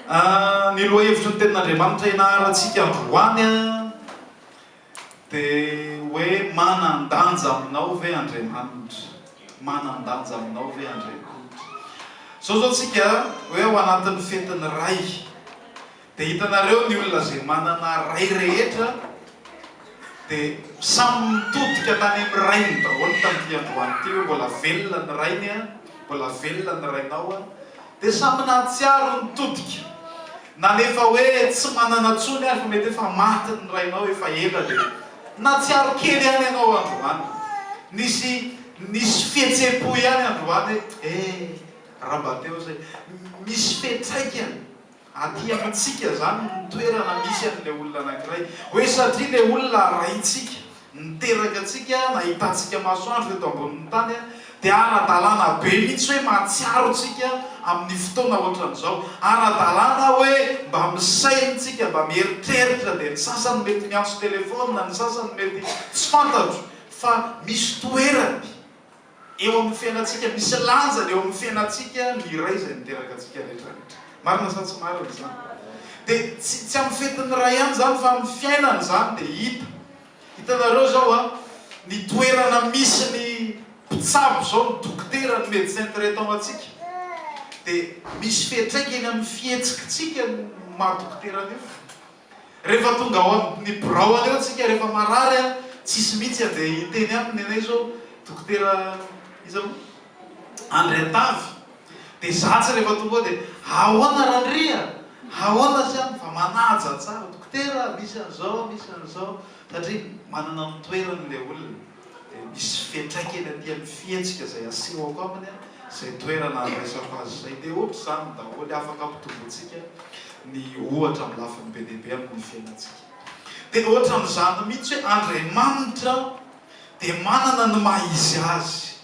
Ny lohahevitry ny Tenin'Andriamanitra ianarantsika androany dia hoe manan-danja aminao ve Andriamanitra? Manan-danja aminao ve Andriamanitra? Izao izao tsika hoe ao anatin'ny fetin'ny Ray dia hitanareo ny olona izay manana Ray rehetra dia samy mitodika tany amin'ny Rainy daholo tamin'ity androany ity hoe mbola velona ny Rainy an, mbola velona ny Rainao an. Dia samy nahatsiaro ny todika. Na ny efa hoe tsy manana tsony ary fa mety efa maty ny rainao efa ela dia nahatsiaro kely ihany ianao androany. Nisy nisy fihetsem-po ihany androany hoe eh, Rabateo izay. Misy fetraikany. Aty amintsika izany no toerana misy an'ilay olona anankiray. Hoe satria ilay olona raintsika, niteraka antsika, nahitantsika masoandro eto ambonin'ny tany, dia ara-dalàna be mihitsy hoe mahatsiaro antsika amin'ny fotoana hoatran'izao. Ara-dalàna hoe mba misaina isika, mba mieritreritra. Dia ny sasany mety miantso telefaonina, ny sasany mety tsy fantatro, fa misy toerany. Eo amin'ny fiainantsika, misy lanjany eo amin'ny fiainantsika ny iray izay niteraka antsika rehetra rehetra. Marina sa tsy marina izany? Dia tsy tsy amin'ny fetin'ny ray ihany izany fa amin'ny fiainana izany dia hita. Hitanareo izao an, ny toerana misy ny mpitsabo izao, ny dokotera, ny médecin traitant antsika, dia misy fiantraikany amin'ny fihetsikitsika ny maha dokotera an'io. Rehefa tonga ao amin'ny birao anio tsika rehefa marary an, tsisy mihitsy andeha hiteny aminy anay zao dokotera iza moa? Andriantavy. Dia za tsy rehefa tonga ao dia ahoana Randria a? Ahoana aza any fa manaja tsara, dokotera misy an'izao misy an'izao satria manana ny toerany ilay olona. dia misy fetraika eny aty amin'ny fihetsika izay asehoko aminy izay toerana handraisako azy izay dia ohatr'izany daholo afaka ampitombointsika ny ohatra amin'ny lafiny be dia be amin'ny fiainantsika dia ohatran'izany mihitsy hoe Andriamanitra dia manana ny maha izy azy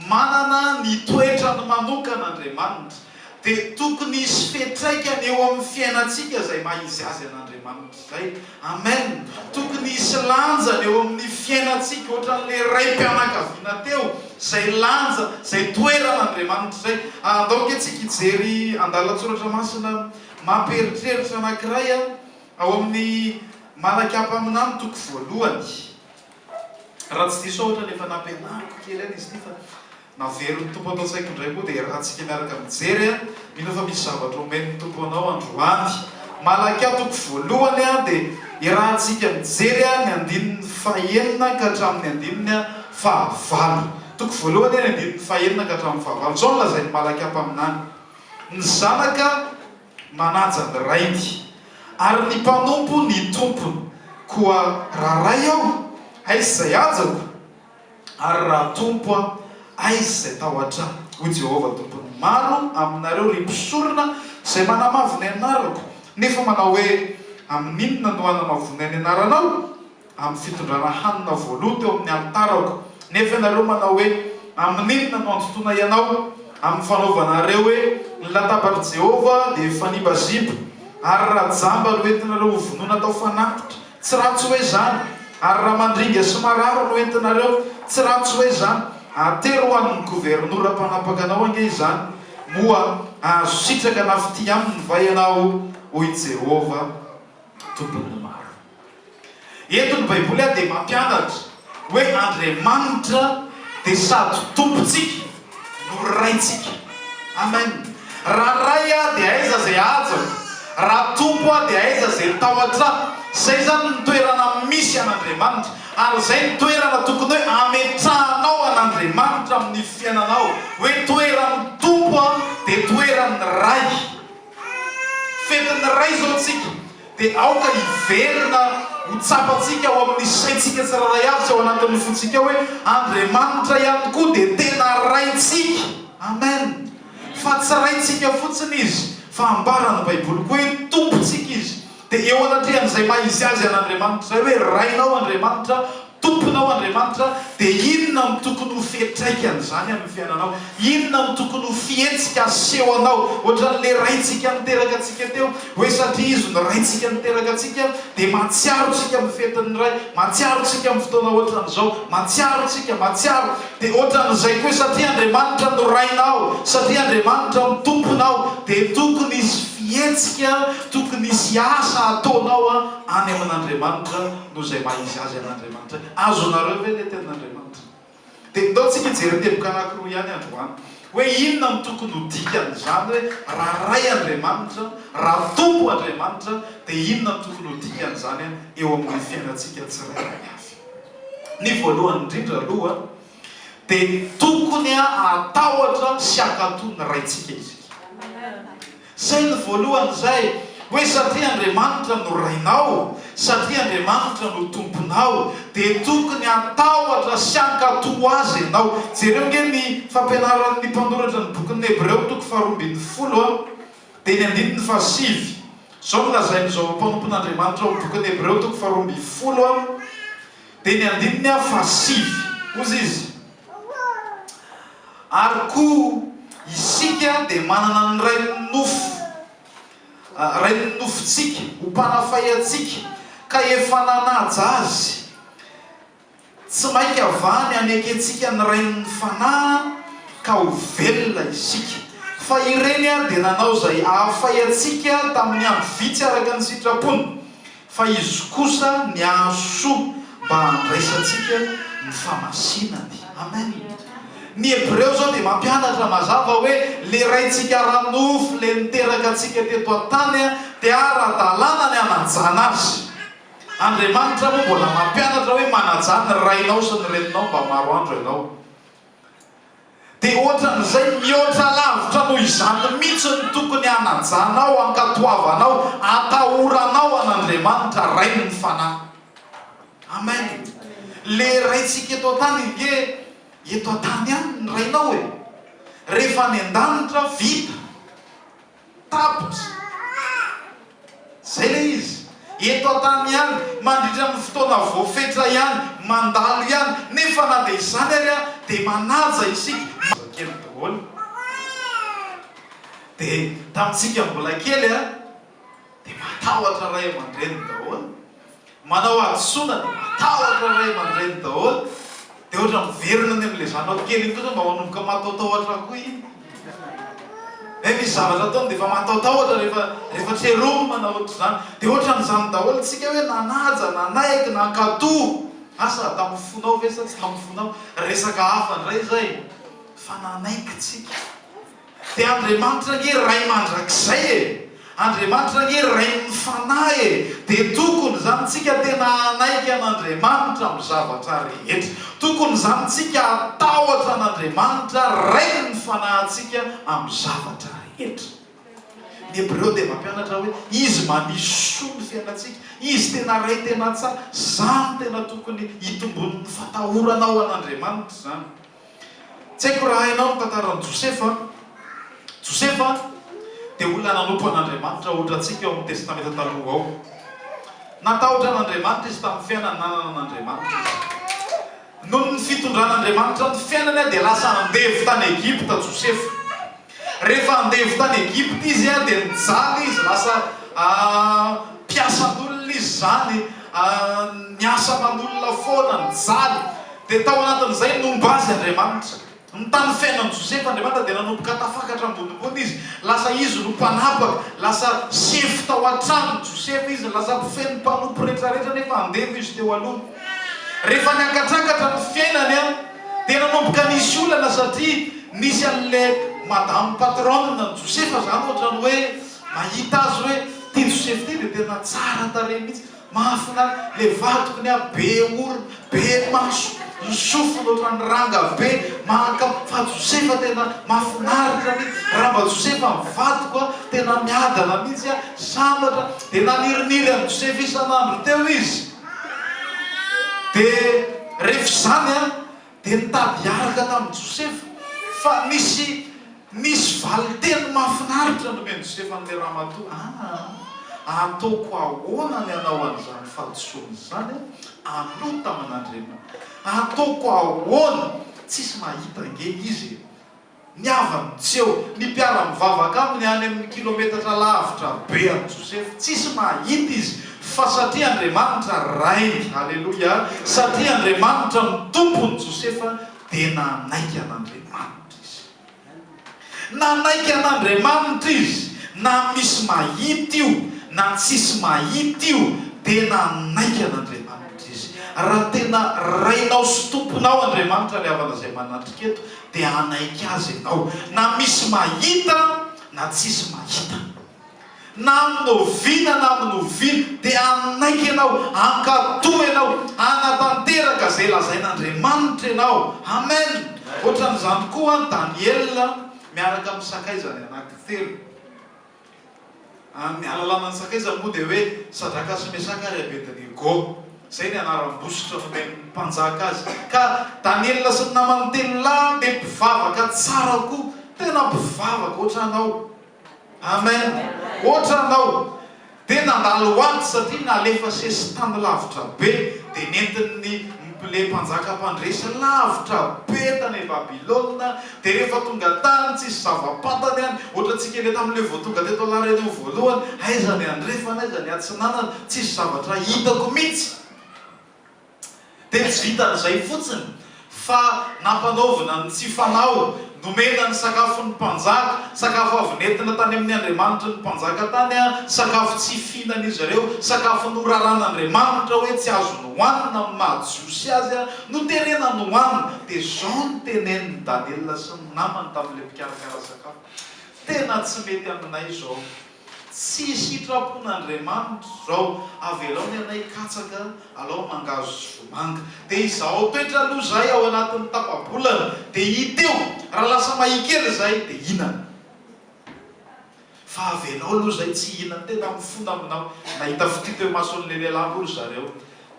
Manana ny toetrany manokana Andriamanitra, dia tokony hisy fiantraikany eo amin'ny fiainantsika izay maha izy azy an'Andriamanitra izay. Amen! Tokony hisy lanjany eo amin'ny fiainantsika, ohatran'ilay raim-pianakaviana teo, izay lanja, izay toeran' Andriamanitra izay. Andao ange tsika hijery andalan-tsoratra masina mampieritreritra anankiray ao amin'ny Malakya mpaminany toko voalohany. Raha tsy diso aho ohatrany efa nampianariko kely any izy ity fa naverin'ny Tompo ato an-tsaiko indray koa dia iarahantsika miaraka mijery a! Mino aho fa misy zavatra omen'ny Tompo anao androany. Malaki a toko voalohany a dia iarahantsika mijery a ny andininy fahenina ka hatramin'ny andininy fahavalo. Toko voalohany a ny andininy fahenina ka hatramin'ny fahavalo. Izao no lazain'ny Malaki a mpaminany, Ny zanaka, Manaja ny rainy, ary ny mpanompo ny tompony. Koa raha ray aho, aiza izay hajako? Ary raha tompo aho, aiza izay tahotra ahy? Hoy Jehovah Tompon'ny maro aminareo, ry mpisorona izay manamavo ny anarako, nefa manao hoe, Amin'inona no hanamavoanay ny anaranao? amin'ny fitondrana hanina voaloa teo amin'ny alitarako, nefa ianareo manao hoe, Amin'inona no andotoana ianao? Amin'ny fanaovanareo hoe ny latabatr'i Jehovah dia fanimbaziba, ary rajamba no entinareo hovonoina atao fanatitra. Tsy ratsy hoe izany? Ary ramandringa sy marary no entinareo. Tsy ratsy hoe izany? Atery ho an'ny governora mpanapaka anao ange izany, moa hahazo sitraka na fitia aminy va ianao? hoy Jehovah. Tompon' ny maro. Eto ny Baiboly ary dia mampianatra hoe Andriamanitra dia sady Tompontsika no Raintsika. Amen. Raha Ray Aho dia aiza izay hajako? Raha Tompo Aho dia aiza izay tahotra Ahy? Izay izany ny toerana misy an' Andriamanitra. Ary izay ny toerana tokony hoe ametrahanao an' Andriamanitra amin' ny fiainanao, hoe toeran' ny Tompo Aho dia toeran' ny Ray. Fetin'ny Ray izao isika, dia aoka hiverina ho tsapantsika ao amin'ny saintsika tsirairay avy sy ao anatin'ny fontsika hoe Andriamanitra ihany koa dia tena Raintsika. Amen. Fa tsy Raintsika fotsiny Izy, fa ambaran'ny Baiboly koa hoe Tompontsika Izy. Dia eo anatrehan'izay maha izy azy an'Andriamanitra izay hoe Rainao Andriamanitra, Tomponao Andriamanitra, dia inona no tokony ho fiantraikan'izany amin'ny fiainanao? Inona no tokony ho fihetsika asehonao? Ohatran'ilay Raintsika niteraka antsika teo hoe satria Izy no Raintsika niteraka antsika dia mahatsiaro antsika amin'ny fetin'ny Ray, mahatsiaro antsika amin'ny fotoana ohatran'izao, mahatsiaro antsika, mahatsiaro. Dia ohatran'izay koa hoe satria Andriamanitra no Rainao, satria Andriamanitra no Tomponao, dia tokony hisy fihetsika, tokony hisy asa ataonao any amin'Andriamanitra. noho izay maha izy azy an'Andriamanitra. Azonareo ve ilay tenin'Andriamanitra? Dia ndao tsika hijery teboka anankiroa ihany androany, hoe inona no tokony ho dikan'izany hoe raha Ray Andriamanitra, raha Tompo Andriamanitra, dia inona no tokony ho dikan'izany eo amin'ny fiainantsika tsirairay avy. Ny voalohany indrindra aloha, dia tokony hahatahotra sy hankatò ny Raintsika isika. Izay no voalohany izay, hoe satria Andriamanitra no Rainao, satria Andriamanitra no Tomponao, dia tokony hatahotra sy hankatò Azy ianao. Jereo ange ny fampianaran'ny mpanoratra ny bokin'ny Hebreo, toko faharoa ambin'ny folo a, dia ny andininy fahasivy. Izao no lazain'izao mpanompon'Andriamanitra ao amin'ny bokin'ny Hebreo, toko faharoa ambin'ny folo a. Dia ny andininy aho fahasivy. Hozy izy, Ary koa isika dia manana ny rain'ny nofo, rain'ny nofontsika, ho mpanafay antsika, ka efa nanaja azy. Tsy mainka va ny hanekentsika ny rain'ny fanahy ka ho velona isika? Fa ireny dia nanao izay hahafay antsika tamin'ny andro vitsy araka ny sitrapony. Fa Izy kosa niaro soa mba handraisantsika ny famasinany. Amen! Ny Hebreo izao dia mampianatra mazava hoe le Raintsika ara-nofo le niteraka antsika teto an-tany dia ara-dalàna ny hanajana Azy. Andriamanitra moa mbola mampianatra hoe manajà ny rainao sy ny reninao mba maro andro ianao. Dia ohatran'izay mihoatra lavitra noho izany mihitsy ny tokony hanajanao, hankatoavanao, hatahoranao an'Andriamanitra Rain'ny Fanahy. Amen. Le Raintsika eto an-tany ange eto an-tany ihany ny Rainao e. Rehefa any an-danitra, vita. Tapitra. Izay ilay izy. Eto an-tany ihany, mandritra ny fotoana voafetra ihany, mandalo ihany. Nefa na dia izany ary dia manaja isika. Zazakely daholo. Dia tamintsika mbola kely dia matahotra ray aman-dreniny daholo. Manao hadisoana dia matahotra ray aman-dreny daholo dia ohatra miverina any amin'ilay zanako kely iny kosa mba manomboka mataotaotra koa iny nefa izy zavatra ataony dia efa mataotaotra rehefa rehefa tseromina na ohatr'izany dia ohatran'izany daholo isika hoe nanaja, nanaiky, nankatò asa hatamin'ny fonao ve sa tsy tamin'ny fonao? resaka hafa indray izay fa nanaiky tsika Dia Andriamanitra ange Ray mandrakizay e! Andriamanitra ange Rain'ny Fanahy e! Dia tokony izany tsika tena hanaiky an'Andriamanitra amin'ny zavatra rehetra. Tokony izany tsika hatahotra an'Andriamanitra Rain'ny Fanahintsika amin'ny zavatra rehetra. Ny Hebreo dia mampianatra hoe Izy manisy soa ny fiainantsika, Izy tena Ray tena tsara. Izany tena tokony hitomboan'ny fatahorana ho an'Andriamanitra izany. Tsy haiko raha hainao ny tantaran'i Josefa. Josefa dia olona nanompo an'Andriamanitra, ohatra antsika ao amin'ny Testamenta Taloha ao. Natahotra an'Andriamanitra izy tamin'ny fiainany nanana an'Andriamanitra izy. Noho ny fitondran'Andriamanitra ny fiainany dia lasa andevo tany Egypta Josefa. Rehefa andevo tany Egypta izy dia nijaly izy, lasa mpiasan'olona izy izany, niasa aman'olona foana, nijaly. Dia tao anatin'izay nomba azy Andriamanitra. Ny tany fiainan'i Josefa Andriamanitra dia nanomboka tafakatra ambonimbony izy, lasa izy no mpanapaka, lasa sefo tao an-tranon'i Josefa izy, lasa mpifehy ny mpanompo rehetrarehetra nefa andevo izy teo aloha. Rehefa niakatrakatra ny fiainany. Dia nanomboka nisy olana satria nisy an'le madame patronne an'i Josefa zany ohatrany hoe mahita azy hoe ty Josefa ity dia tena tsara tarehy mihitsy, mahafinaritra, le vadikony ary be orona, be maso, ny sofiny ohatran'ny ranga be, mahakam, fa Josefa tena mahafinaritra mihitsy, raha mba Josefa ny vadiko a, tena miadana mihitsy a, sambatra, dia naniriniry an'i Josefa isan'andro teo izy. Dia rehefa izany an, dia nitady hiaraka tamin'i Josefa, fa nisy nisy valin-teny mahafinaritra nomen'i Josefa an'ilay ramatoa, Aa, ataoko ahoana ny hanao an'izany fahadisoana izany aloha tamin'Andriamanitra? Ataoko ahoana? Tsisy mahita ange izy e! Ny havany tsy eo. Ny mpiara-mivavaka aminy any amin'ny kilometatra lavitra be an'i Josefa. Tsisy mahita izy, fa satria Andriamanitra Rainy, haleloia, satria Andriamanitra no Tompon'i Josefa, dia nanaiky an'Andriamanitra izy. Nanaiky an'Andriamanitra izy, na misy mahita io, na tsisy mahita io, dia nanaiky an'Andriamanitra izy. Raha tena Rainao sy Tomponao Andriamanitra ilay havana izay manatrika eto, dia hanaiky azy ianao, na misy mahita na tsisy mahita. Na amin'ny oviana na amin'ny oviana dia hanaiky ianao, hankatò ianao, hanatanteraka izay lazain'Andriamanitra ianao. Amen! Ohatran'izany koa Daniela miaraka amin'ny sakaizany anankitelo. Amin'ny alalana ny sakaizany moa dia hoe Sadraka sy Mesaka ary Abednego. Izay ny anaram-bositra nomen'ny mpanjaka azy. Ka Daniela sy ny namany telo lahy dia mpivavaka tsara koa. Tena mpivavaka ohatranao. Amen. Ohatranao. Dia nandalo ho ato satria nalefa sesitany lavitra be dia nentin'ny mplay mpanjaka mpandresy lavitra be tany Babylona. Dia rehefa tonga tany tsisy zava-patany any, ohatra antsika indray tamin'ilay vao tonga teto La Réunion voalohany, aiza ny andrefana, aiza ny atsinanana, tsisy zavatra hitako mihitsy. Dia tsy vitan'izay fotsiny fa nampanaovina ny tsy fanao, nomena ny sakafo ny mpanjaka, sakafo avy nentina tany amin'ny andriamanitry ny mpanjaka tany, sakafo tsy fihinan'izy ireo, sakafo noraran'Andriamanitra hoe tsy azony hohanina amin'ny maha jiosy azy, Noterena ny hohanina, dia izao no tenenin'i Daniela sy ny namany tamin'ilay mpikarakara sakafo, Tena tsy mety aminay izao. Tsy sitrapon'Andriamanitra izao. Avelao ny anay hikatsaka, alao mangahazo sy vomanga. Dia izaho toetra aloha izay ao anatin'ny tapa-bolana, dia hita eo, raha lasa mahia kely izay, dia hihinana. Fa avelao aloha izay tsy hihinan'ny tena mifona aminao. Nahita fitia teo imason'ilay lehilahy moa ry zareo,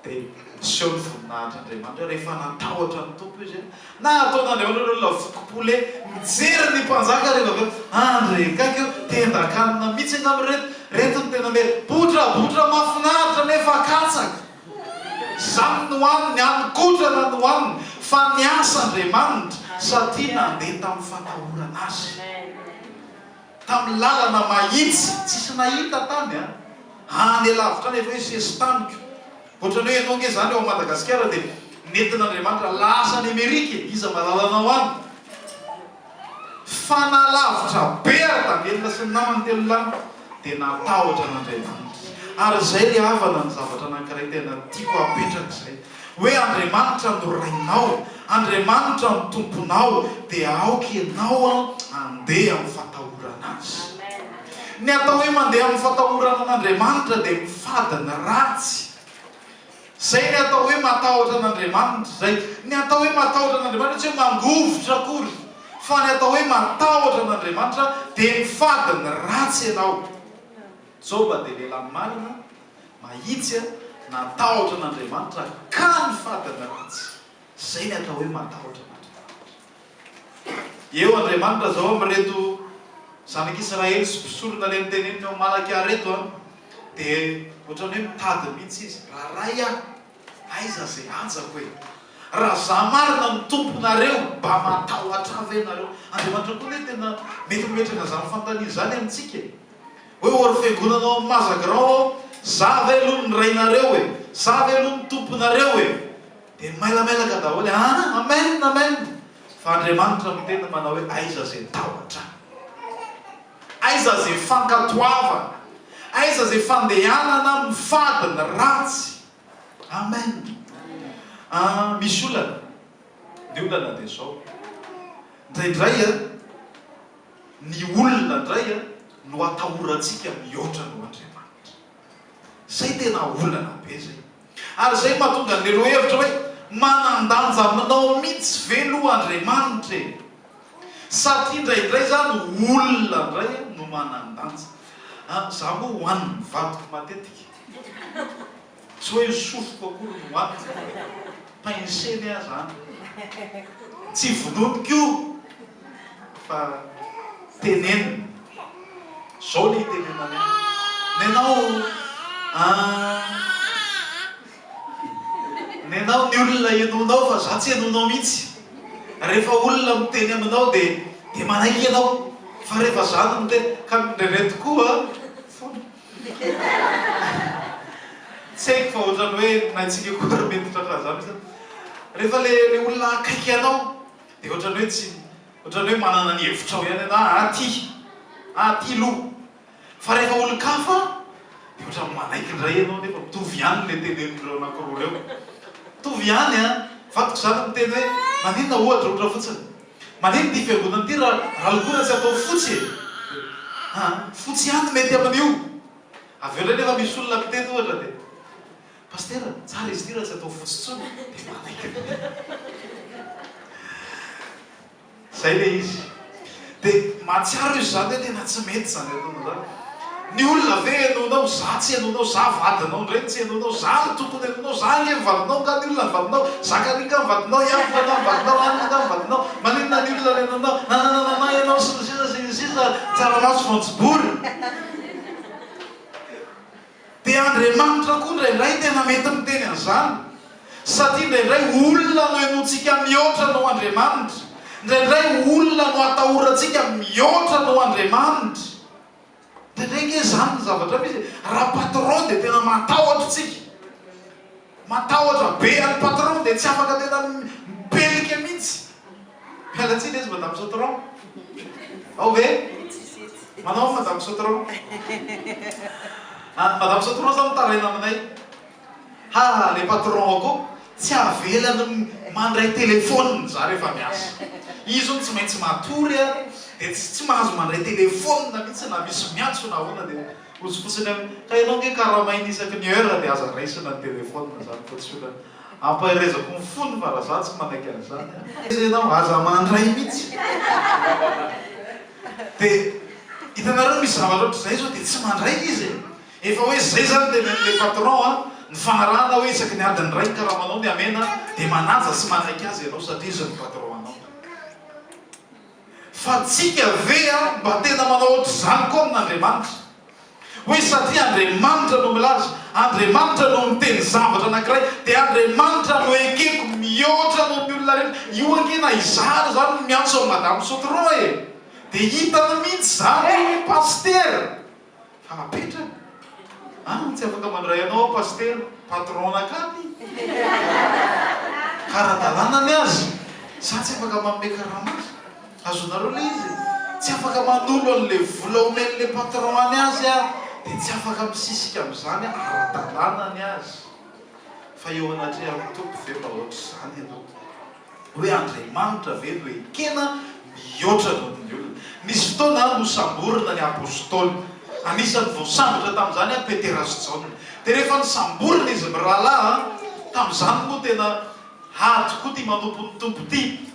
dia niseho ny voninahitr'Andriamanitra. Rehefa natahotra ny Tompo izy, nataon'Andriamanitra ny olona voky pole mijery ny mpanjaka rehefa avy eo. Andry kaiky eo, tendan-kanina mihitsy angamba ireto. Ireto no tena mety. Botrabotra mahafinaritra nefa katsaka. Izany no hany, ny hany kotrana no haniny. Fa niasa Andriamanitra satria nandeha tamin'ny fatahorana Azy. Tamin'ny lalana mahitsy tsisy nahita tany an! Any lavitra any efa hoe sesi-taniko. Ohatran'ny hoe ianao ange izany ao Madagasikara dia nentin'Andriamanitra lasa any Amerika e! Iza mahalala anao any? Fa nahalavitra be ary Daniela sy ny namany telo lahy dia natahotra an'Andriamanitra. Ary izay ry havana ny zavatra anankiray tena tiako hapetraka izay. hoe Andriamanitra no Rainao, Andriamanitra no Tomponao, dia aoka ianao handeha amin'ny fatahorana Azy. Ny atao hoe mandeha amin'ny fatahorana an'Andriamanitra dia mifady ny ratsy. Izay ny atao hoe matahotra an'Andriamanitra. Izay ny atao hoe matahotra an'Andriamanitra, tsy hoe mangovitra akory, fa ny atao hoe matahotra an'Andriamanitra dia mifady ny ratsy ianao. Joba dia lehilahy marina. Mahitsy aho, natahotra an'Andriamanitra aho, ka ny fadin'ny ratsy. Izay ny atao hoe matahotra an'Andriamanitra. Eo Andriamanitra izao amin'ireto zanak'Israely sy mpisorona ilay noteneniny ao Malakia ireto an, dia ohatran'ny hoe mitady mihitsy izy, Raha Ray an, aiza izay hajako e? Raha izaho marina no Tomponareo, mba matahotra ahy ve ianareo? Andriamanitra koa anie tena mety mimetraka izany fanontaniana izany amintsika e! Hoe ory fiangonana ao amin'ny Maza Grand aho, za ve aloha ny rainareo e? Za ve aloha ny tomponareo e? Dia mailamailaka daholo e! Aa! Amen! Amen! Fa Andriamanitra miteny manao hoe aiza izay tahotra? Aiza izay fankatoavana? Aiza izay fandehanana amin'ny fady, ny ratsy? Amen! Aa! Misy olana, ny olana dia izao, indraindray a! Ny olona indray no atahorantsika mihoatra noho Andriamanitra. Izay tena olana be izay. Ary izay no mahatonga an'ilay lohahevitra hoe, Manan-danja aminao mihitsy ve aloha Andriamanitra e? Satria indraindray izany olona indray no manan-danja. Izaho moa hohanin'ny vadiko matetika. Tsy hoe ny sofiko akory no antony fa pensene aza an! Tsy vonoiko io fa tenenina. Zao le itenenany an! Nenao an! Nenao ny olona enonao fa za tsy enonao mihitsy. Refa olona miteny aminao de de manaiky enao fa refa za no miteny ka ndraindray tokoa fona. Tsy haiko fa ohatran'ny hoe ny naintsika koa ary mety tratra an'izany ve zany? Rehefa le le olona akaiky anao de ohatran'ny hoe tsy ohatran'ny hoe manana ny hevitrao ihany ianao ah ty ah ty lo fa rehefa olon-kafa de ohatran'ny manaiky indray ianao nefa mitovy ihany le tenen'ireo anankiroa ireo mitovy ihany an! vadiko zany miteny hoe maninona ohatra ohatra fotsiny Manino ity fiangonana ity raha raha lokoina tsy atao fotsy e! Ha fotsy ihany no mety amin'io! Avy eo indray nefa misy olona miteny ohatra dia Pasitera, tsara izy ity raha tsy atao fotsy intsony dia manaiky Zay le izy. Dia mahatsiaro izy izany hoe tena tsy mety izany ataony izany. Ny olona ve henoinao, za tsy henoinao, za vadinao ndray no tsy henoinao, za no tokony henoinao, za ange ny vadinao, nga ny olona ny vadinao, Zakaria ny vadinao, Iakoba nga ny vadinao, Anna nga ny vadinao, maninona ny olona no henoinao, nanananana ianao sy ny sisa sy ny sisa, tsaramaso voanjobory. Dia Andriamanitra koa indraindray tena mety miteny an'izany, satria indraindray olona no henointsika mihoatra noho Andriamanitra, indraindray olona no atahorantsika mihoatra noho Andriamanitra. Indraindray ange izany ny zavatra misy e, raha patron dia tena matahotra isika. Matahotra be an'i patron dia tsy afaka tena mipelika mihitsy. Miala tsiny izy madame Sautron. Ao ve? Manao ny madame Sautron. Any madame Sautron zao mitaraina aminay. Ha le patron ako tsy avelany mandray telephone za rehefa miasa. Izy hono tsy maintsy matory ary dia tsy mahazo mandray telephone mihitsy na misy miantso na ahoana dia. Ozy fotsiny anie. Ka ianao ange karamaina isaky ny heure dia aza raisina ny téléphone zany fa tsy olana. Ampaherezako ny fony fa raha za tsy manaiky an'izany an. Aiza ianao aza mandray mihitsy. Dia hitanareo misy zavatra ohatr'izay zao dia tsy mandray izy e. Efa hoe zay zany le le patron an, ny fanarahana hoe isaky ny adiny iray ny karamanao ny hamena dia manaja sy manaiky azy ianao satria izy no patron anao. Fa tsika ve mba tena manao ohatr'izany koa amin'Andriamanitra? Hoe satria Andriamanitra no milaza, Andriamanitra no miteny zavatra anankiray, dia Andriamanitra no ekeko mihoatra noho ny olona rehetra. Io ange na izaho ary izany no miantso an'i Madame Sotroa e! Dia hitany mihitsy izany io hoe Pasitera! Hapetrany? An! Tsy afaka mandray anao aho Pasitera, Patron nakany! Ka ara-dalàna ny azy, za tsy afaka manome karama azy. Azonareo le izy e! Tsy afaka manolo an'le vola omen'le Patron any azy aho, dia tsy afaka misisika amin'izany aho, ara-dalàna ny azy. Fa eo anatrehan'ny Tompo ve mba ohatr'izany ianao? Hoe Andriamanitra ve no ekena mihoatra noho ny olona? Nisy fotoana nosamborina ny Apôstôly. Anisan'ny voasambotra tamin'izany an, Petera sy Jaona. Dia rehefa nosamborina izy mirahalahy an, tamin'izany moa tena hady koa ity manompo ny Tompo ity.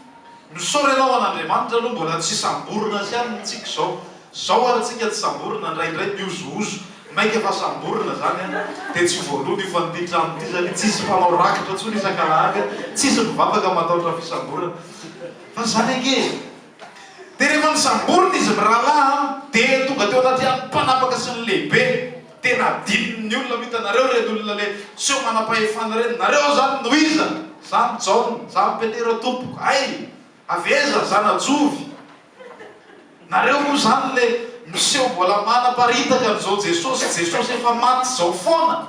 Misaora ianao an'Andriamanitra aloha mbola tsy samborina azy ihany ny antsika izao. Zao ary tsika tsy samborina, ndraindray miozohozo, mainka fa samborina zany an! Dia tsy voaloana io fa n'ity trano ity zany tsisy mpanao rakitra tsony isak'alahady an! Tsisy mivavaka mataotra fisamborana fa zany ange e! Dia rehefa nisamborina izy mirahalahy an! Dia tonga teo anaty ala ny mpanapaka sy ny lehibe, dia nadininy ny olona, mitanareo ireny olona le seho manam-pahefana ireny, nareo zany no iza? Za no Jaona, za no Petera tompoko, hay! Avy aiza? Zanajovy. Nareo moa zany le miseho mbola manaparitaka an'izao Jesosy Jesosy efa maty zao foana?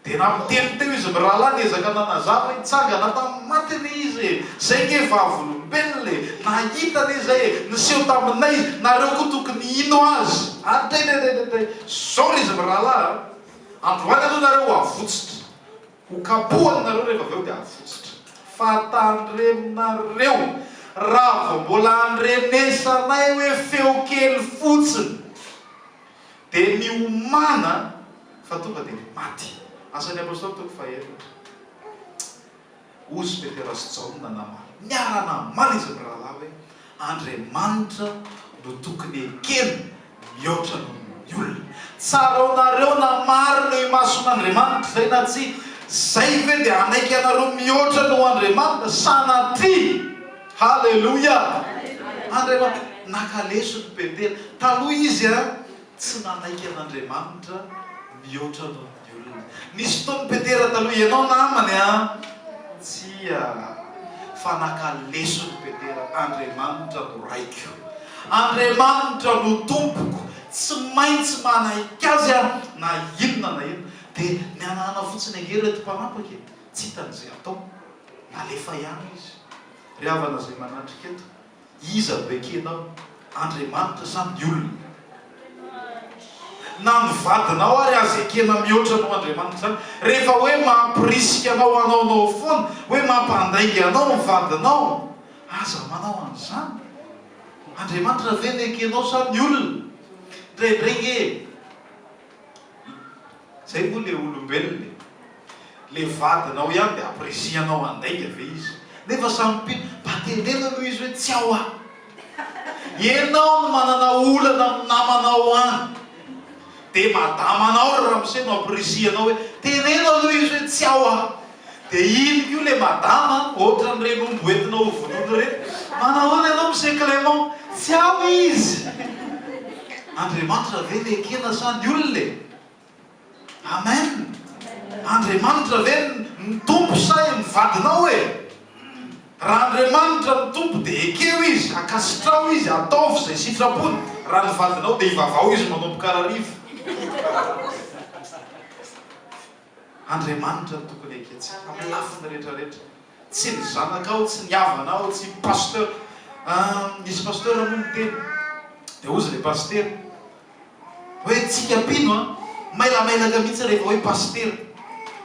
Dia nampiteny teo izy mirahalahy niezaka nanazava hoe nitsangana tamin'ny maty anie izy e! Zay nge vavolombelona e! Nahita anie zay e! Niseho taminay izy! Nareo koa tokony hino azy! Atetetetetete! Sorry izy mirahalahy a! Androany aloha nareo ho avotsitra! Ho kapohany nareo rehefa avy eo dia avotsitra fa tandreminareo raha vao mbola andrenesanay hoe feo kely fotsiny dia miomana fa tonga dia maty. Asan'ny Apostoly toko fahaefatra. Hozy Petera sy Jaona namaly niara-namaly izy mirahalahy hoe. Andriamanitra no tokony ekena mihoatra noho ny olona. Tsaraonareo na marina eo imason'Andriamanitra izay na tsia. Izay ve dia hanaiky anareo mihoatra noho Andriamanitra? Sanatria! Haleloia! Andriamanitra. Naka lesona Petera. Taloha izy tsy nanaiky an'Andriamanitra mihoatra noho ny. ny olona. Nisy fotoana Petera taloha ianao namany an! Tsia! Fa naka lesona Petera, Andriamanitra no Raiko. Andriamanitra no Tompoko. Tsy maintsy manaiky Azy aho na inona na inona. Dia nihanahana fotsiny ange ireto mpanapaka e! Tsy hitany izay hatao. Nalefa ihany izy. Ry havana izay manatrika eto, Iza no ekenao? Andriamanitra sa ny olona? Na ny vadinao ary aza ekena mihoatra noho Andriamanitra izany. Rehefa hoe mampirisika anao hanaonao foana hoe mampandainga anao ny vadinao, aza manao an'izany. Andriamanitra ve no ekenao sa ny olona? Indraindray ange e! Zay moa le olombelona e! Le vadinao ihany de apprécier-nao handainga ve izy? Nefa samy mpi mba teneno aloha izy hoe tsy ao ah! Ianao no manana olana amin'ny namanao any de madamanao ry ramose no apprécier-nao hoe teneno aloha izy hoe tsy ao ah! De ino koa le madama an, ohatran reny omby ho entina ho vonoina reny, manao ahoana ianao Monsieur Clément, tsy ao izy! Andriamanitra ve ny ekena sa ny olona e? Amen! Andriamanitra ve no Tompo sa i ny vadinao e? Raha Andriamanitra no Tompo dia ekeo izy, ankasitraho izy, ataovy izay sitrapony, raha ny vadinao dia ivavaho izy manomboka hariva. Andriamanitra no tokony ekentsika amin'ny lafiny rehetra rehetra. Tsy ny zanakao, tsy ny havanao, tsy ny pasteur. Misy pasteur moa miteny dia hozy ilay pasitera hoe tsika mpino an, mailamailaka mihitsy rehefa hoe pasitera.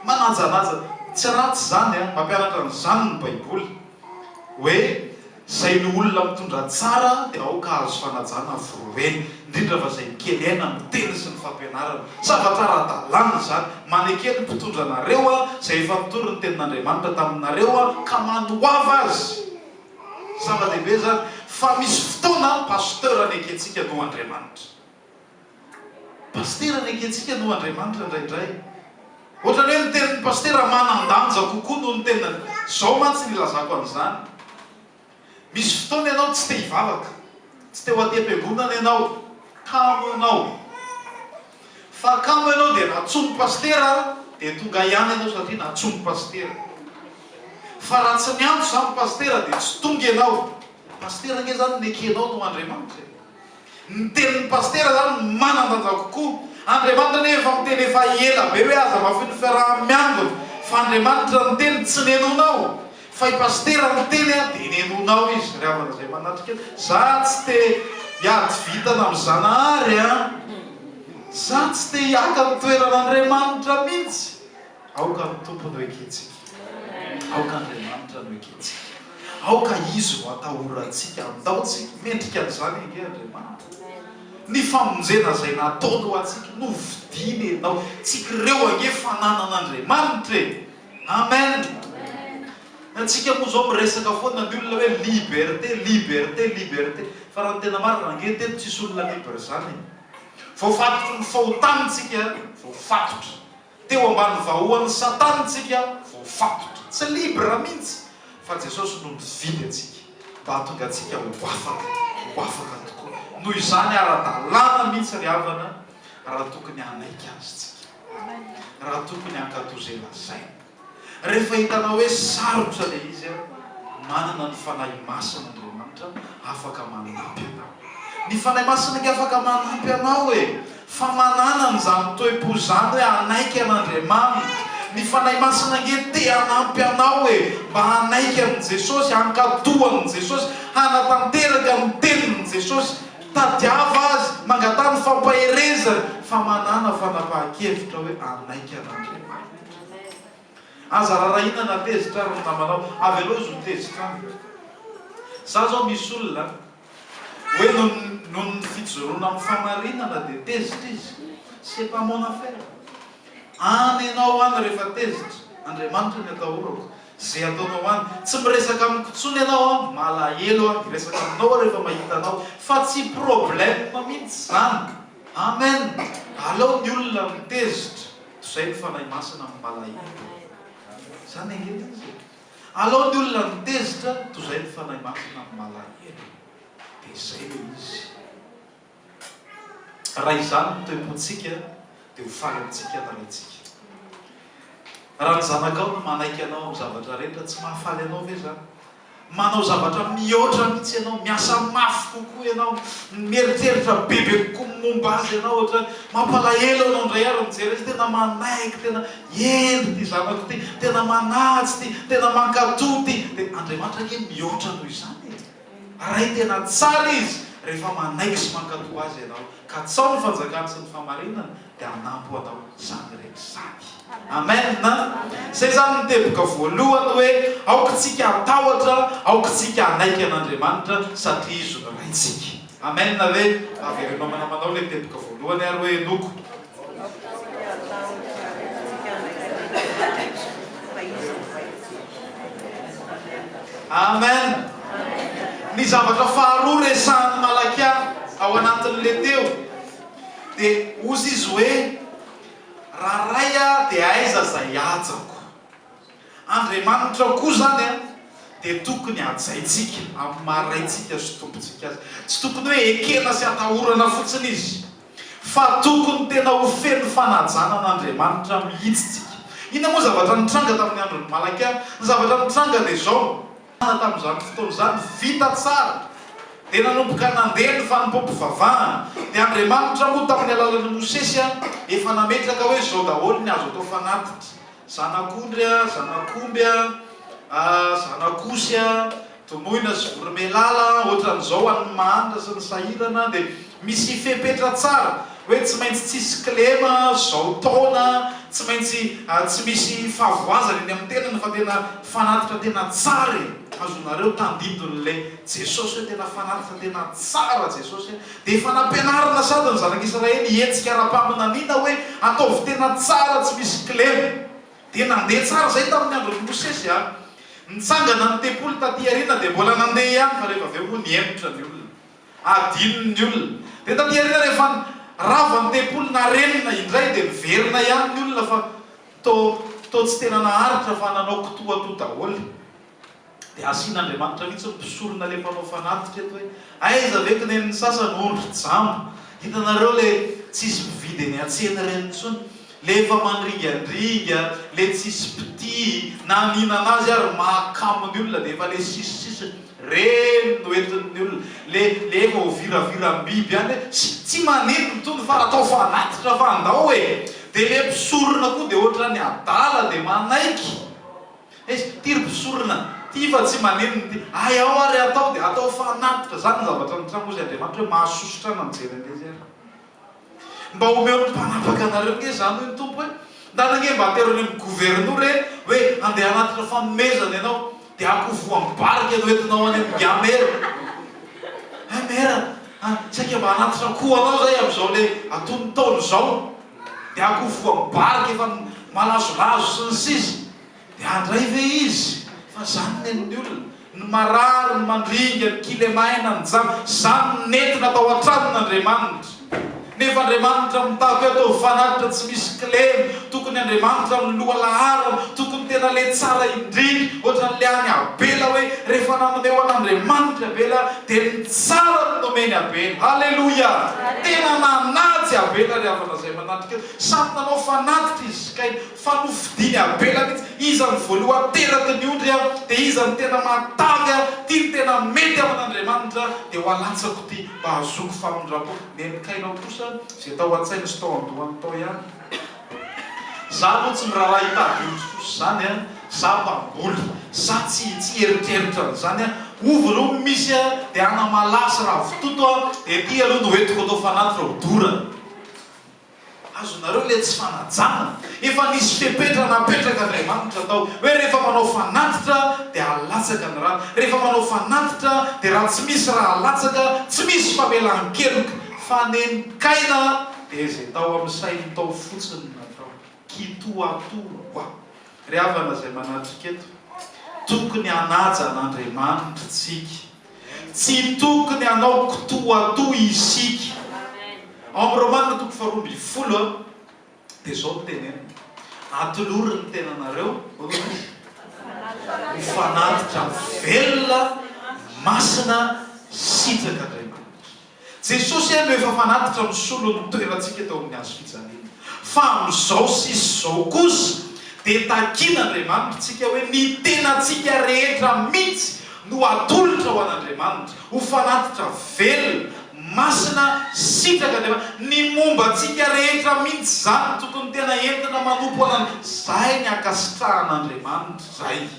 Manajanaja. Tsy ratsy izany an, mampianatra an'izany ny baiboly hoe. Izay ny olona mitondra tsara dia aoka hahazo fanajana ny forohoreny, indrindra fa izay mikely aina amin'ny teny sy ny fampianarana. Zavatra ara-dalàna izany. Maneke ny mpitondra anareo Aho, izay efa nitory ny tenin'Andriamanitra taminareo Aho, ka manoava azy. Zava-dehibe izany fa misy fotoana ny pasteur anekentsika noho Andriamanitra. Pasitera nekentsika noho Andriamanitra indraindray. Ohatran'ny hoe ny tenin'ny pasitera manan-danja kokoa noho ny tenany. Izao mantsy ny ilazako an'izany, Misy fotoana ianao tsy te hivavaka, tsy te ho aty am-piangonana ianao, kamo ianao. Fa kamo ianao dia natsoin'ny pasitera dia tonga ihany ianao satria natsoin'ny pasitera. Fa raha tsy niantso izany ny pasitera dia tsy tonga ianao. Pasitera ange izany nekenao noho Andriamanitra e! Ny tenin'ny pasitera izany no manan-danja kokoa. Andriamanitra anie efa miteny efa ela be hoe aza mahafoy ny fiaraha-miangona fa Andriamanitra niteny tsy nenonao fa i pasitera niteny a dia nenonao izy ry havana izay manatrika za tsy te hiady vintana amin'i Zanahary a! za tsy te hiaka ny toeran'Andriamanitra mihitsy! Aoka ny Tompo no ekentsika. Aoka Andriamanitra no ekentsika. Aoka Izy no atahorantsika. Andaontsika. Mendrika an'izany ange Andriamanitra. Ny famonjena izay nataony ho antsika. Novidiany ianao. Tsikireo ange fananan'Andriamanitra e! Amen! Antsika moa izao miresaka foana ny olona hoe liberté, liberté, liberté. Fa raha ny tena marina, ange teto tsisy olona libre izany e! Voafatotry ny fahotantsika, voafatotry. Teo ambany vahoan'i satana tsika voafantotra. Tsy libre mintsy fa Jesosy no nividy antsika mba hahatonga antsika ho afaka, ho afaka tokoa. Noho izany ara dalàna mintsy ry havana raha tokony hanaiky Azy tsika. Raha tokony hankato ze lazainy. Rehefa hitanao hoe sarotra ilay izy an, manana ny Fanahy Masina Andriamanitra afaka manampy anao. Ny Fanahy Masina nge afaka manampy anao e! Fa manana an'izany toe-po izany hoe hanaiky an'Andriamanitra. Ny Fanahy Masina nge te hanampy anao e! Mba hanaiky an'i Jesosy, hankatò an'i Jesosy, hanatanteraka ny tenin'i Jesosy. Tadiava Azy, mangataha ny fampaherezany, fa manana fanapahan-kevitra hoe hanaiky an'Andriamanitra. Aza rarahina na tezitra ary ny namanao, avelao izy ho tezitra aminy. Za zao misy olona hoe noho ny fijoroana amin'ny famarinana dia tezitra izy, c'est pas mon affaire. Any enao any rehefa tezitra, Andriamanitra ny atahorako, ze ataonao any. Tsy miresaka amiko tsony enao an, malahelo aho hiresaka aminao aho rehefa mahita anao fa tsy problème mintsy zany. Amen! Alao ny olona mitezitra. Zay ny Fanahy Masina amin'ny Malahelo. Zany ange ilay izy e. Alao ny olona ny tezitra toy zay ny Fanahy Masina amin'ny Malahelo. Dia zay ilay izy. Raha izany ny toe-pontsika dia ho faly amintsika ny Raintsika. Raha ny zanakao no manaiky anao amin'ny zavatra rehetra, tsy mahafaly anao ve zany? Manao zavatra mihoatra mihitsy ianao, miasa mafy kokoa ianao, mieriteritra bebe kokoa ny momba azy ianao ohatrany. Mampalahelo anao indray ary mijery azy, tena manaiky, tena hendry ity zanako ity, tena manaja ity, tena mankatò ity. Dia Andriamanitra ange mihoatra noho izany e! Aray tena tsara Izy rehefa manaiky sy mankatò Azy ianao, katsaho ny fanjakany sy ny fahamarinany. dia hanampy ho atao samy ireny sady. Amen! Izay izany no teboka voalohany hoe aoka isika hatahotra, aoka isika hanaiky an'Andriamanitra satria Izy no Raintsika. Amen ve? Avereno amanamanao ilay teboka voalohany ary hoe henoko. Aoka isika hatahotra ary aoka isika hanaiky an'Andriamanitra fa Izy no Raintsika. Amen! Ny zavatra faharoa resahin'i Malakia ao anatin'ilay teo. Dia hozy izy hoe, Raha Ray a, dia aiza izay hajako? Andriamanitra koa izany a, dia tokony hajaintsika amin'ny maha Raintsika sy Tompontsika Azy. Tsy tokony hoe ekena sy atahorana fotsiny Izy, fa tokony tena ho feno fanajana an'Andriamanitra mihitsy tsika. Inona moa zavatra nitranga tamin'ny andron'i Malakia? Ny zavatra nitranga dia izao. Aza tamin'izany fotoana izany vita tsara dia nanomboka nandeha ny fanompoam-pivavahana, dia Andriamanitra moa tamin'ny alalan'i Mosesy ihany efa nametraka hoe izao daholo ny azo atao fanatitra, zanak'ondry a, zanak'omby a, zanak'osy a, donoina sy voromailala, ohatran'izao an'ny mahantra sy ny sahirana, dia Misy fepetra tsara hoe tsy maintsy tsy hisy kilema zao taona, tsy maintsy tsy misy fahavoazana eny amin'ny tenany fa tena fanatitra tena tsara e! azonareo tandindon'le Jesosy hoe tena fanatitra tena tsara Jesosy a! dia efa nampianarina sady ny zanak'i Israely hihetsika ara-paminaniana hoe ataovy tena tsara tsy misy kilema dia nandeha tsara izay tamin'ny andron'i Mosesy a! nitsangana ny tempoly taty aoriana dia mbola nandeha ihany fa rehefa avy eo moa nihemotra ny olona. Adinon'ny olona. Dia taty aoriana rehefa rava ny tempoly narenina indray dia miverina ihany ny olona fa toa toa tsy tena naharitra fa nanao kitoatoa daholo. Dia asian'Andriamanitra mihitsy ny mpisorona ilay mpanao fanatitra eto hoe aiza ve kinen'ny sasany ondry, jamba. Hitanareo ilay tsisy mividy eny an-tsena ireny intsony. Le efa mandringandringa, le tsisy mpitia, na mihinana azy ary mahakamo ny olona dia efa le sisy sisy, reny no entin'ny olona, le le efa ho viraviram-biby any hoe ssy tsy manenina itony fa atao fanatitra fa andao e! dia le mpisorona koa dia ohatrany adala dia manaiky hoe ity ry mpisorona ity fa tsy manenina ity, hay ao ary atao dia atao fanatitra, zany ny zavatra nitranga hozy Andriamanitra hoe mahasosotra ahy na mijery an'le izy ary. Mba omeo ny mpanapaka anareo nge zany hoy ny Tompo hoe, ndana nge mba atero any amin'ny governora e, hoe andeha hanatitra fanomezana ianao, dia akoho voambarika no entinao any amin'ny ga mera. Hay mera a, saika mba hanatitra akoho anao zahay amin'izao le aton'ny ntaolo zao, dia akoho voambarika efa malazolazo sy ny sisa. Dia handray ve izy fa zany ny an'ny olona? Ny marary, ny mandringa, ny kilemaina, ny jamba, zany no nentina tao an-tranon' Andriamanitra. Nefa Andriamanitra mitaky hoe ataovy fanatitra tsy misy kilema, tokony Andriamanitra no loha laharana, tokony tena le tsara indrindra, ohatran'le any Abela hoe rehefa nanome ho an'Andriamanitra i Abela dia ny tsara no nomeny Abela. Haleloia! Tena nanaja Abela ry havana izay manatrika eo, samy nanao fanatitra izy sy Kaina. Fa nofidiny Abela mihitsy. Iza no voalohany teraky ny ondry an, dia iza no tena mahatavy an, ty no tena mety amin' Andriamanitra, dia ho alatsako ty, mba hahazoako famindram-po. Nen'i Kaina kosa izay tao an-tsainy sy tao an-dohany tao ihany. Za aloha tsy miraharaha hitady ondry fosy izany an, za mpamboly, za tsy tsy eritreritra an'izany an, ovy ireo no misy an, dia anamalaho sy ravitoto an, dia ty aloha no entiko atao fanaty ireo dorana. Azonareo ilay tsy fanajana? Efa nisy fepetra napetraka Andriamanitra tao hoe rehefa manao fanatitra dia halatsaka ny rano, rehefa manao fanatitra dia raha tsy misy ra halatsaka tsy misy famelan-keloka. Fa nenikaina dia izay tao amin'ny sainy tao fotsiny no natao. Kitoatoa hoa. Ry havana izay manatrika eto, tokony hanaja an'Andriamanitra isika. Tsy tokony hanao kitoatoa isika. Ao amin'ny Romana toko faharoa ambin'ny folo dia izao no teneniny, Atolory ny tenanareo ho fanatitra velona, masina, sitraky Andriamanitra. Jesosy aloha efa fanatitra misolo ny toerantsika teo amin'ny hazo fijaliana. Fa amin'izao sisa izao kosa dia takian'Andriamanitra tsika hoe ny tenantsika rehetra mihitsy no atolotra ho an'Andriamanitra ho fanatitra velona, masina, sitrak'Andriamanitra. Ny momba antsika rehetra mihitsy izany no tokony tena entina manompo an'Andriamanitra. Izay ny ankasitrahan'Andriamanitra izay.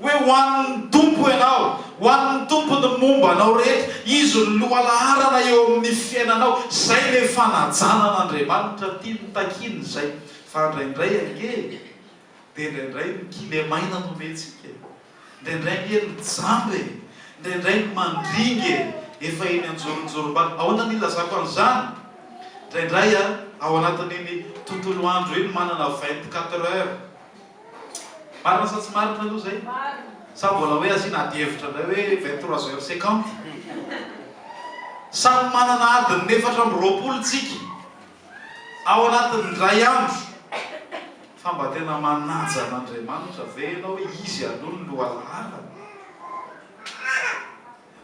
Hoe ho an' ny Tompo ianao, ho an' ny Tompo ny momba anao rehetra, Izy no lohalaharana eo amin' ny fiainanao. Izay ilay fanajanan' Andriamanitra tiany takiana izay. Fa indraindray ange e, dia indraindray ny kilemaina no omentsika e, indraindray ange ny jamba e, indraindray ny mandringa e, efa eny an-joronjorom-bala. Ahoana no ilazako an' izany? Indraindray ao anatin' iny tontolo andro iny manana vingt-quatre heures. Marina sa tsy marina aloha zay? Sa mbola hoe asiana adihevitra indray hoe vingt trois heures cinquante? Samy manana adiny efatra amby roapolo tsika ao anatin'ny indray andro fa mba tena manaja an'Andriamanitra ve ianao hoe izy aloha no lohalalana?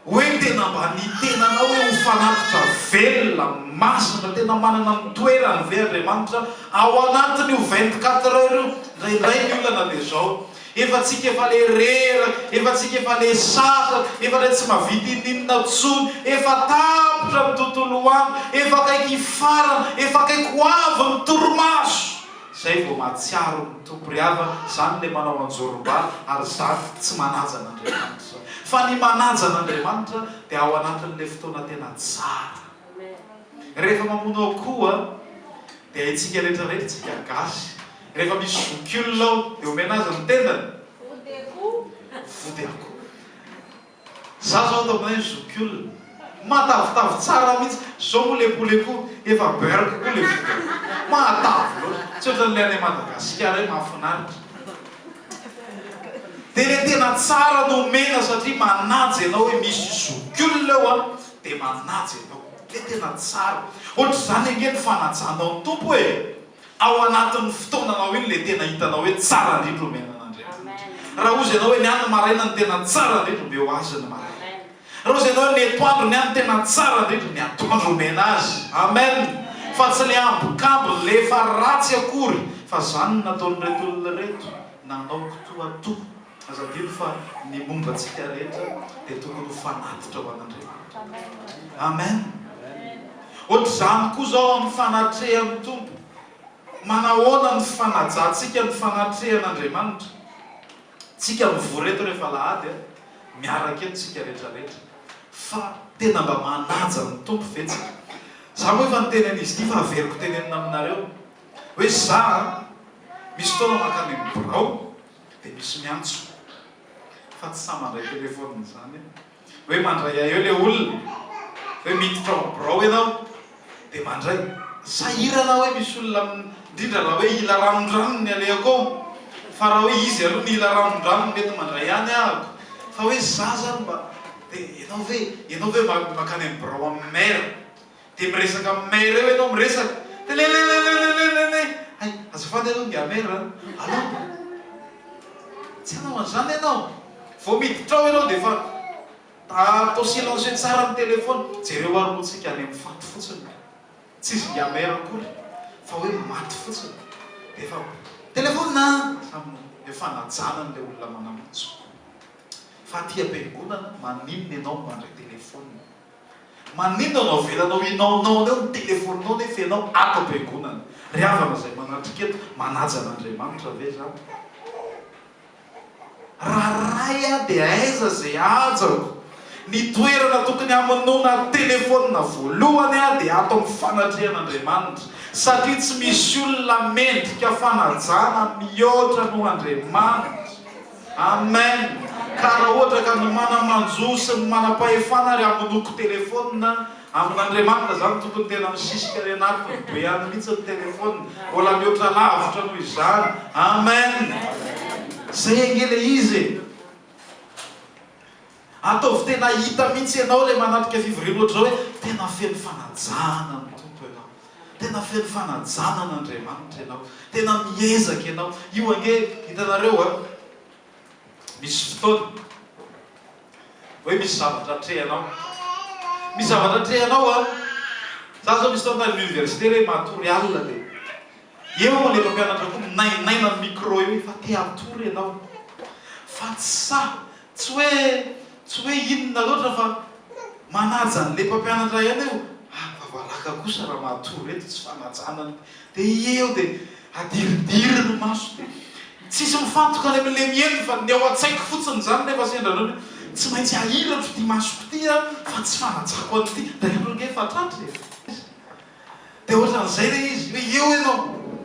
hoe tena mba ny tenanao hoe ho fanatitra velona, masina, tena manana ny toerany ve Andriamanitra ao anatin'io vingt quatre heures io? Indraindray ny olana dia izao, efa tsika efa le reraka, efa tsika efa le satra, efa le tsy mahavita ininona tsony, efa tapitra ny tontolo andro, efa akaiky hifarana, efa akaiky ho avy ny torimaso. Zay vao mahatsiaro ny Tompo ry havana, zany le manao anjoromba ary zany tsy manaja an'Andriamanitra. Fa ny manaja an'Andriamanitra dia ao anatin'le fotoana tena tsara. Rehefa mamono akoho dia haintsika rehetra rehetra tsika gasy, rehefa misy zokiolona ao dia omena azy ny tendany? Vody akoho. Za zao ataoko hoe zokiolona. Matavitavy tsara mihitsy. Zao moa le poulet ko efa beurk ko le vokany. Matavy loatra. Tsy ohatran'ilay any Madagasikara hoe mahafinaritra. Dia le tena tsara no omena satria manaja ianao hoe misy zokiolona eo an, dia manaja ianao. Le tena tsara. Ohatr'izany ange ny fanajanao ny Tompo e. ao anatin'ny fotoananao iny ilay tena hitanao hoe tsara indrindra omena an'Andriamanitra. Raha hozy ianao hoe ny ahy ny maraina no tena tsara indrindra, omeo Azy ny maraina. Raha hozy ianao hoe ny etoandro ny ahy no tena tsara indrindra, ny atoandro omena Azy. Amen! Fa tsy ny ambokambony, ilay efa ratsy akory, fa izany no nataon'ireto olona ireto, nanao kitoatoa. Aza adino fa ny momba antsika rehetra dia tokony ho fanatitra ho an'Andriamanitra. Amen. Ohatr'izany koa izao amin'ny fanatrehan'ny Tompo. Manahoana ny fanajantsika ny fanatrehan'Andriamanitra? Tsika mivory eto rehefa alahady, miaraka eto tsika rehetra rehetra, fa tena mba manaja ny Tompo ve tsika? Za moa efa niteny an'izy ity fa averiko tenenina aminareo hoe za misy fotoana mankany amin'ny birao Dia misy miantso fa tsy sahy mandray telephone izany an! Hoe mandray ahy eo le olona! Hoe miditra ao birao ianao dia mandray! Sahirana aho hoe misy olona indrindra raha hoe hila ranondranony ny alehako ao! Fa raha hoe izy aloha no hila ranondranony mety mandray ihany ahako! Fa hoe za zany mba dia ianao ve ianao ve makany amin'ny birao amin'ny maire? Dia miresaka amin'ny maire eo ianao miresaka dia lelelelelelelele hay azafady aloha ny dia maire an! Alou dia tsy hanao an'izany ianao vao miditra ao ianao dia efa atao silencieux tsara ny téléphone jereo ary moa tsika any amin'ny faty fotsiny ka tsy izy dia maire akory fa hoe maty fotsiny dia efa téléphone an! Samy efa najana an'ilay olona manambotso fa aty am-piangonana maninona ianao no mandray téléphone? Maninona no avelanao inaonaona eo ny telefoninao nefa ianao ato am-piangonana? Ry havana izay manatrika eto, manaja an'Andriamanitra ve izany? Raha ray aho dia aiza izay hajako? Ny toerana tokony hamonoana telefonina voalohany aho dia ato amin'ny fanatrehana Andriamanitra satria tsy misy olona mendrika fanajana mihoatra noho Andriamanitra. Amen ka raha ohatra ka ny mana manjo sy ny manam-pahefana ary hamonoko telephone amin Andriamanitra izany tokony tena misisika any anatiny be any mihitsy ny telephone mbola mihoatra lavitra noho izany Amen zay ange le izy e. Ataovy tena hita mihitsy ianao ilay manatrika fivoriana ohatr'izao hoe tena feno fanajana ny Tompo ianao, tena feno fanajana an' Andriamanitra ianao, tena miezaka ianao. Io ange hitanareo a, misy fotoana hoe misy zavatra atrehanao, misy zavatra atrehanao a. Za zao misy fotoana tany amin'ny université re matory alina dia eo ilay mpampianatra koa minainaina ny micro eo hoe fa te hatory ianao fa tsy sahy Tsy hoe tsy hoe inona loatra fa manaja an'ilay mpampianatra ihany aho, ary vavaraka kosa raha matory eto tsy fanajana ny dia ie eo dia adiridiry ny maso dia tsisy mifantoka any amin'ilay miely fa ny ao an-tsaiko fotsiny izany nefa sendra anao hoe tsy maintsy ahiratro ity masoko ity an fa tsy fanajako an'ity, dahelo ange efa tratra e! Dia ohatran'izay ilay izy, hoe eo ianao,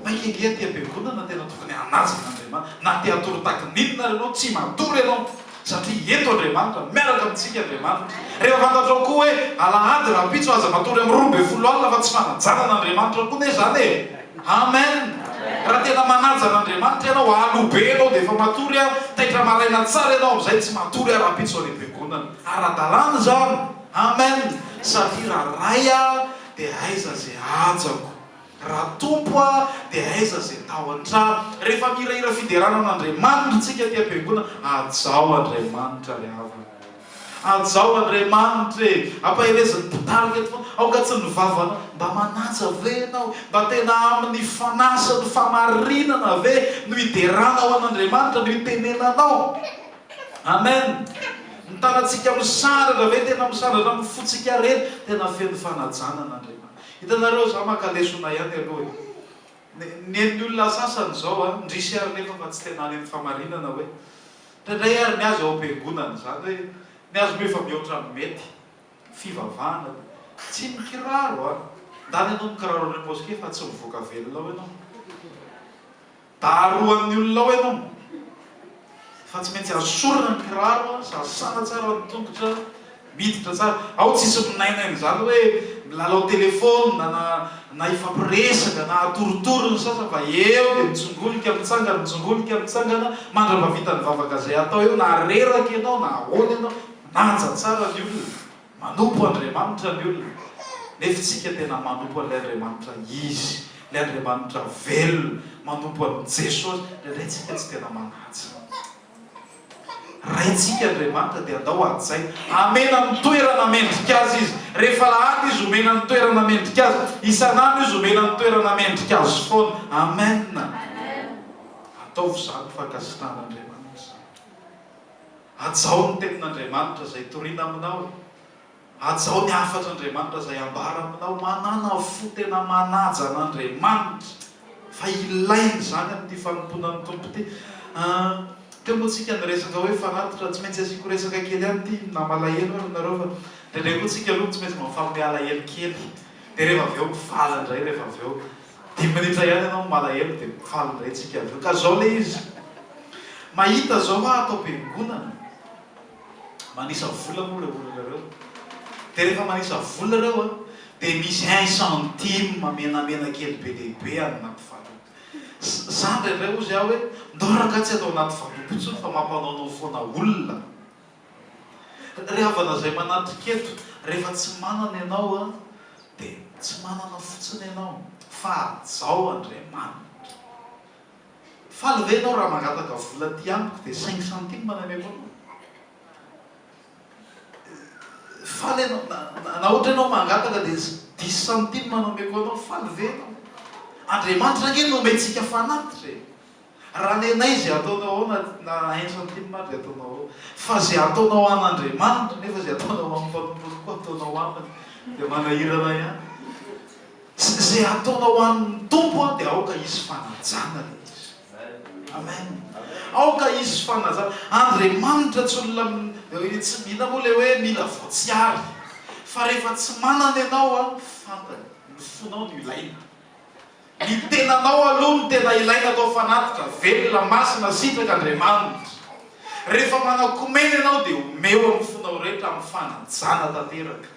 mainka ange aty am-piangonana, tena tokony hanaja an'Andriamanitra, na te hatory taky ny inona ary ianao, tsy matory ianao, satria eto Andriamanitra, miaraka amintsika Andriamanitra. Rehefa fantatrao koa hoe alahady rahampitso, aza matory amin'ny roa ambin'ny folo alina, fa tsy fanajana an'Andriamanitra koa anie izany e! Amen! Raha tena manaja an'Andriamanitra ianao, alohibey ianao dia efa matory, taitra maraina tsara ianao amin'izay, tsy matory rahampitso any am-piangonana. Ara-dalàna izany. Amen Safira a Ray a de aiza ze hajako Ra Tompo a de aiza ze tao antrano Refa mihirahira fiderana an'Andriamanitra tsika aty am-piangona Hajao Andriamanitra ry havana o Hajao Andriamanitra e Ampaherezin'ny mpitarika eto foana Aoka tsy ny vavanao Mba manaja ve enao e Mba tena amin'ny fanahy sy ny famarinana ve no hideranao an'Andriamanitra no hitenenanao Amen! Ny tanantsika misandratra ve? Tena misandratra amin'ny fontsika rery, tena feno fanajana an'Andriamanitra. Hitanareo, za maka lesona ihany aloha e! nen'ny olona sasany zao an, ndrisy ary nefa fa tsy tena any amin'ny famarinana hoe, ndraindray ary ny azy ao am-piangonana, izany hoe ny azy moa efa mihoatra amin'ny mety, fivavahana dia, tsy mikiraro an, ndany ianao mikiraro any am-paosy kely fa tsy mivoaka velona ao ianao. Darohan'ny olona ao ianao fa tsy maintsy azo sorona ny kiraro a, sasana tsara ny tongotra, miditra tsara, ao tsisy minainaina izany hoe milalao telephone na na hifampiresaka na atorotoro ny sasany fa eo dia mitsongolika mitsangana mitsongolika mitsangana mandrapavitan'ny vavaka izay atao eo na reraka ianao na ahoana ianao manaja tsara ny olona. Manompo Andriamanitra ny olona, nefa isika tena manompo an'ilay Andriamanitra izy, ilay Andriamanitra velona, manompo an'i Jesosy, indraindray isika tsy tena manaja. Raintsika Andriamanitra dia andao hajaina, hamena ny toerana mendrika Azy Izy, rehefa alahady Izy homena ny toerana mendrika Azy, isan'andro Izy homena ny toerana mendrika Azy foana. Amen! Ataovy izany fankasitrahan'Andriamanitra izany. Hajao ny tenin'Andriamanitra izay torina aminao. Hajao ny hafatr'Andriamanitra izay ambara aminao. Manàna fo tena manaja an'Andriamanitra, fa ilaina izany amin'ity fanompoana ny Tompo ity. Teo moa tsika niresaka hoe fanatitra, tsy maintsy asiako resaka kely ihany ity, na malahelo ary nareo fa ndraindray koa tsika aloha tsy maintsy mifampy mialahelo kely, dia rehefa avy eo mivala indray rehefa avy eo. Dimy minitra ihany ianao no malahelo dia faly indray tsika avy eo ka zao ilay izy mahita zao hoa ato am-piangonana manisa vola moa ireo olona ireo dia rehefa manisa vola ireo an dia misy un centime menamena kely be dia be any anaty valopy za indraindray hozy aho hoe ndao ragah tsy atao anaty valopy intsony fa mampanaonao foana olona Ry havana izay manatrika eto, rehefa tsy manana ianao an, dia tsy manana fotsiny ianao, fa hajao Andriamanitra. Faly ve ianao raha mangataka vola aty amiko dia cinq centimes no ameko anao? Faly ianao, na, na, na ohatra ianao mangataka dia dix centimes no ameko anao, faly ve ianao? Andriamanitra ange no omentsika fanatitra e! Raha nenay izay ataonao ao na na aintso an'ity ny madry ataonao ao. Fa izay ataonao an'Andriamanitra, nefa izay ataonao amin'ny mpanomponao koa ataonao aminy, dia manahirana ihany. Izay ataonao amin'ny Tompo an, dia aoka hisy fanajana ilay izy. Amen. Aoka hisy fanajana. Andriamanitra tsy olona mi, tsy mila moa ilay hoe mila voatsiary. Fa rehefa tsy manana ianao an, fantany. Ny fonao no ilainy. Ny tenanao aloha no tena ilaina atao fanatitra, velona, masina, sitraka, Andriamanitra. Rehefa manakomena ianao dia omeo amin'ny fonao rehetra amin'ny fanajana tanteraka.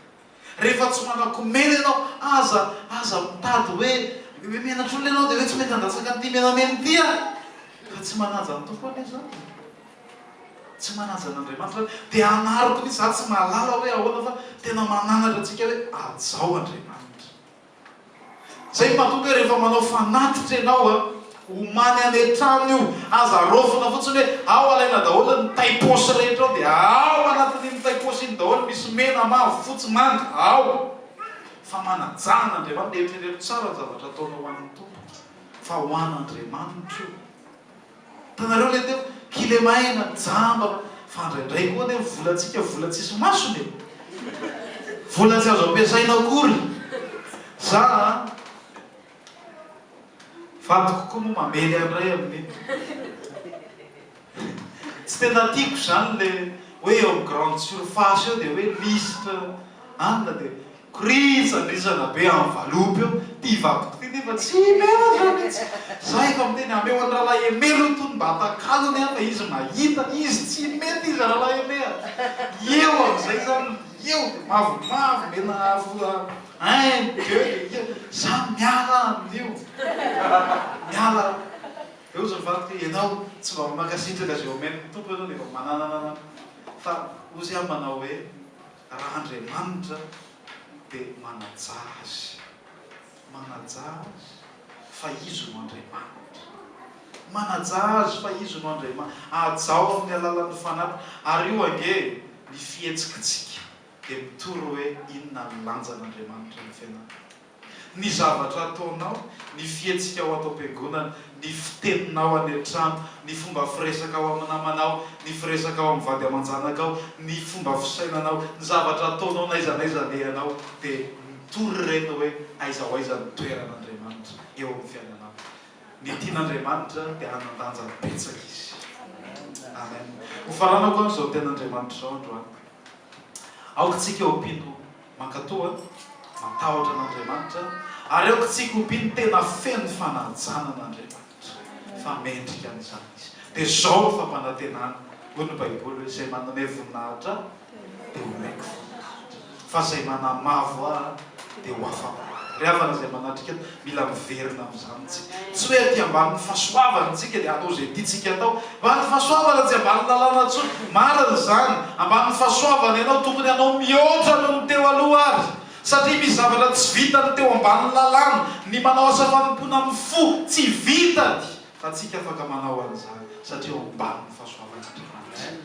Rehefa tsy manakomena ianao, aza, aza mitady hoe, hoe menatra olona ianao dia hoe tsy mety handatsaka an'ity menamena ity aho. Ka tsy manaja ny Tompo anie zany e. Tsy manaja an'Andriamanitra zany. Dia hanariko mihitsy, za tsy mahalala hoe ahoana fa tena mananatra antsika hoe hajao Andriamanitra. Zay mahatonga hoe rehefa manao fanatitra ianao a, omany any an-trano io, aza raofina fotsiny hoe ao alaina daholo ny tay paosy rehetra ao dia ao anatin'iny tay paosy iny daholo misy mena, mavo, fotsy, manga, ao fa manajà an'Andriamanitra, eritrereto tsara ny zavatra ataonao ho an'ny Tompo fa ho an'Andriamanitra io. Hitanareo le teo, kilema aina, jamba, fa ndraindray koa anie ny volantsika vola tsisy masony e! Vola tsy azo ampiasaina akory! Za a! Vadiko koa moa mamely an'i Ray amin'iny. Tsy tena tiako izany le hoe eo amin'ny grande surface eo dia hoe lisitra anona dia. Crise andrisana be any valopy ao, ty vadiko ty nefa tsy menatra mintsy, za efa miteny ameo an'i Ralahy Aimé lo tony mba hatakalony aho fa izy mahita, izy tsy mety izy Ralahy Aimé a! eo amizay za no eo de mavomavo mena afo un, deux de eo, za miala aminio, miala aho, de ozy ny vadiko hoe enao tsy mba mankasitraka ze omen'ny Tompo enao de efa manananana fa ozy aho manao hoe Raha Andriamanitra dia manajà azy. Manajà azy fa Izy no Andriamanitra. Manajà azy fa Izy no Andriamanitra. Ajao amin'ny alalan'ny Fanahy. Ary io ange ny fihetsikitsika dia mitory hoe inona ny lanjan'Andriamanitra amin'ny fiainanao. Ny zavatra ataonao, ny fihetsikao ato am-piangonana, ny fiteninao any an-trano, ny fomba firesakao amin'ny namanao, ny firesakao amin'ny vady aman-janakao, ny fomba fisainanao, ny zavatra ataonao n'aiza n'aiza alehanao dia mitory ireny hoe aiza ho aiza ny toeran'Andriamanitra eo amin'ny fiainanao. Ny tian'Andriamanitra dia hanan-danja betsaka Izy. Amen. Hofaranako amin'izao tenin'Andriamanitra izao androany. Aoka isika ho mpino. Mankatò a! Matahotra an'Andriamanitra ary aoka tsy hikoby ny tena feno fanajana an'Andriamanitra fa mendrika an'izany izy. Dia izao no fampanantenana, hoy ny Baiboly hoe, Izay manome voninahitra ahy dia homeko voninahitra, fa izay manamavo ahy dia ho afa-po ahy. Ry havana izay manatrika. Mila miverina amin'izany isika. Tsy hoe aty ambanin'ny fahasoavana isika dia atao izay tiantsika atao. Ambanin'ny fahasoavana tsy ambanin'ny lalàna intsony. Marina izany. Ambanin'ny fahasoavana ianao. Tokony hanao mihoatra noho ny teo aloha àry. Satria misy zavatra tsy vitan'ny teo ambanin'ny lalàna. Ny manao asa fanompoana amin'ny fo tsy vitany. Fa tsika afaka manao an'izany satria eo ambanin'ny fahasoavan'Andriamanitra.